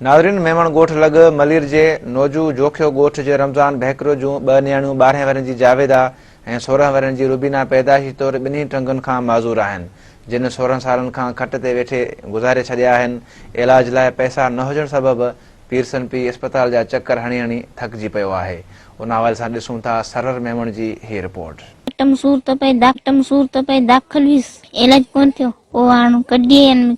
ناظرين ميمڻ ڳوٺ لڳ ملير جي نوجو جوکيو ڳوٺ جي رمضان ڀيڪرو جون ٻه نياڻيون ٻارهين ورهين جي جاويدا ۽ سورهن ورهين جي روبينا پيدائشي طور ٻنهي ٽنگن کان معذور آهن جن سورهن سالن کان کٽ تي ويٺي گذاري ڇڏيا آهن علاج لاء پئسا نه هجڻ سبب پيرسن پيء اسپتال جا چڪر هڻي هڻي ٿڪجي پيو آهي ان حوالي سان ڏسون ٿا سرهر ميمڻ جي هي رپورٽ. ٽم سور تپي داخل هيس علاج ڪونه ٿيو پوء هاڻ ڪڍي ۽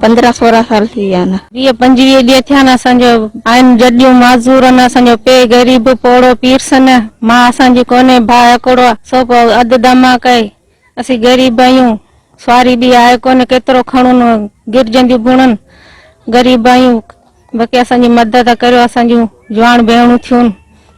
پندرهن سورهن سال ٿي ويا آهن. ويهه پنجويهه ڏينهن ٿيا آهن اسان جو آهن جڏيون معذور آهن اسان جو پي غريب پوڙهو پيرسن مان اسان جي ڪونهي ڀاء هڪڙو سو پو اڌ دماڪ اهي اسين غريب آهيون سواري ٻي آهي ڪونهي ڪيترو کڻون گرجنديون بڻن غريب آهيون باقي اسان جي مدد ڪريو اسان جون جوان ڀيڻون ٿيون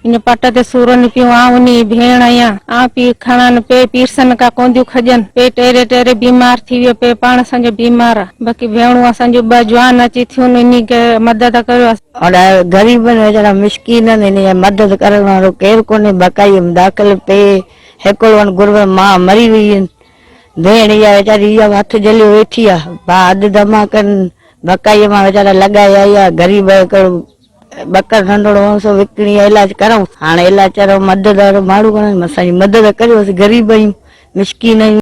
ان پٽ تي سورن پيون آئون انهي جي ڀيڻ اهيان آئون پي کڻن پي پيرسن ڪا ڪونديون کڄن پي ٽيري ٽيري بيمار ٿي ويو پي پاڻ اسان جو بيمار آ باقي ڀيڻون اسان جون ٻه جوان اچي ٿيون انهي کي مدد ڪريو. اڙا غريبن ويچارن مسڪينن انهي جي مدد ڪرڻ وارو ڪير ڪونهي بقائي ام داخل پي هيڪلون گربن مان مري ويئن ڀيڻ اها ويچاري اها به هٿ جهليو ويٺي آ ڀا اڌ دما ڪن ڀڪائي مان ويچارا لڳائي آئي آ غريب آهي ڪهڙو ٻڪر ننڍڙو هئس سو وڪڻي علاج ڪرائون هاڻي علاج چرو مدد وارو ماڻهو ڪونه اسان جي مدد ڪريو اسين غريب آهيون مسڪين آهيون.